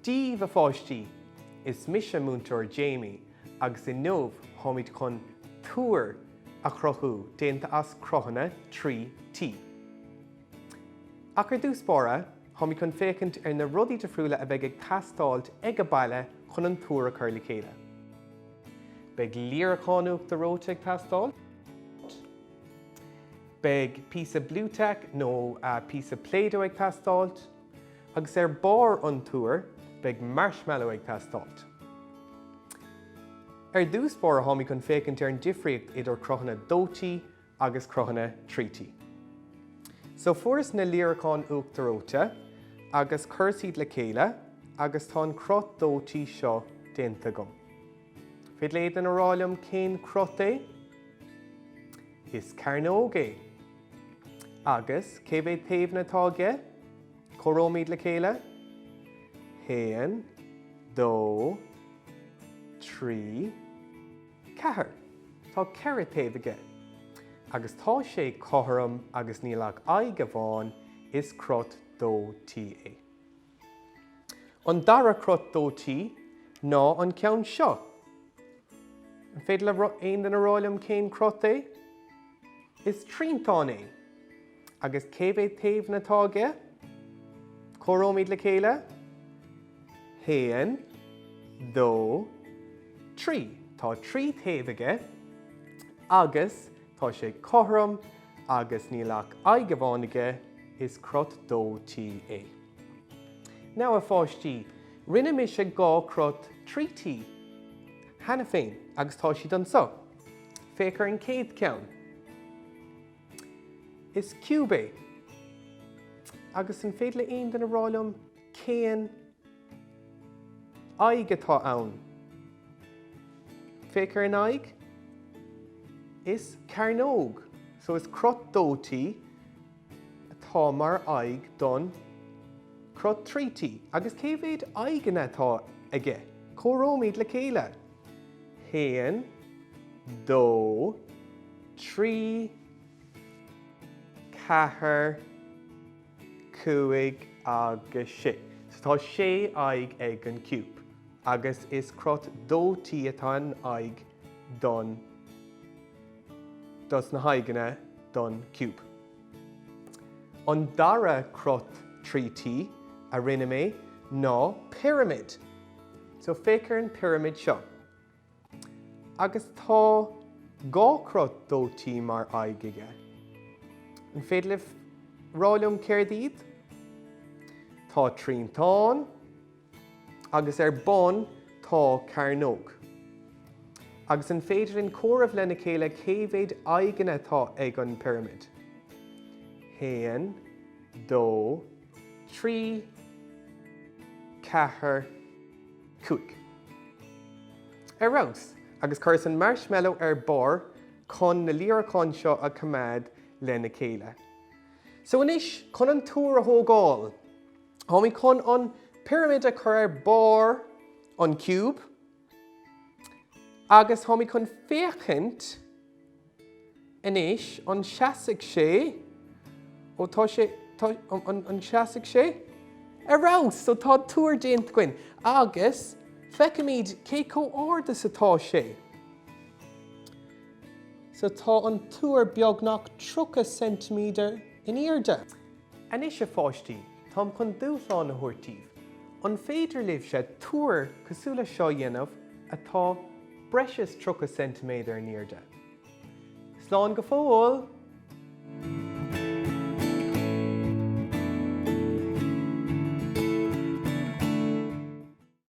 Díbh a pháistí! Is mise Múinteoir Jamie agus inniu táimid chun Túr a chruthú, déanta as cruthanna 3T. Ach ar dtús báire, táimid chun féachaint ar na rudaí difriúla a bheidh ag teastáilt ag a' baile chun an túr a chur le chéile. Beidh líreacán uachtar reoite ag teastáilt. Beidh píosa Blu Tack nó píosa Play-Doh ag teastáilt. Agus ar barr an túir, beidh marshmallow ag teastáilt. Ar dtús báire, táimid chun féachaint ar an difríocht idir cruthanna 2T agus cruthanna 3T. So fuaireas na líreacáin uachtar reoite agus chuireas iad le chéile agus tá an cruth 2T seo déanta agam. Féidir le aon duine rá liom cén cruth é? Is cearnóg é. Agus cé mhéad taobhanna atá aige? Comhaireoimid le chéile? Haon, dó, trí, Ceathair. Tá ceithre taobh aige. Agus tá sé cothrom agus níl ach aghaidh amháin is cruth 2T é. An dara cruth 2T ná an ceann seo. An féidir le aon duine rá liom cén cruth é? Is triantán é. Agus cé mhéad taobhanna atá aige? Comhaireoimid le chéile. haon, dó, trí. Tá trí taobh aige agus tá sé cothrom agus níl ach aghaidh amháin aige, is cruth 2T é. Now, a pháistí, rinne mise dhá cruth 3T cheana féin agus tá siad anseo. Féach ar an chéad cheann. Is ciúb é. Agus an féidir le aon duine rá liom cén aghaidh atá ann? Féach ar an aghaidh. Is cearnóg. So is cruth 2T atá mar aghaidh don cruth 3T. Agus cé mhéad aghaidheanna atá aige? Comhaireoimid le chéile. haon, dó, trí, ceathair, cúig agus sé. So tá sé aghaidh ag an ciúb agus is cruth 2T atá in aghaidh don, dos na haghaidheanna don ciúb. An dara cruth 3T a rinne mé ná pirimid. So féach ar an bpirimid seo. Agus tá dhá chruth déthoiseach mar aghaidh aige. An féidir libh rá liom céard iad? Tá triantán agus ar bun tá cearnóg. Agus an féidir linn comhaireamh lena chéile cé mhéad aghaidheanna atá ag an bpirimid? 1, 2, trí ceathair cúig ar fheabhas, agus cuireas an marshmallow ar barr chun na líreacán seo a choimeád lena chéile. So anois chun an túr a thógáil. Táimid chun an pirimid a chur ar barr an ciúb. Agus táimid chun féachaint anois, an seasfaidh sé, ó tá sé, an seasfaidh sé? Ar fheabhas, so tá túr déanta againn agus feicimid cé chomh ard is atá sé. So tá an túr beagnach 30 ceintiméadar in airde. Anois a pháistí, táim chun dúshlán a thabhairt daoibh. An féidir libhse túr cosúil leis seo a dhéanamh atá breis is tríocha ceintiméadar in airde? Slán go fóill!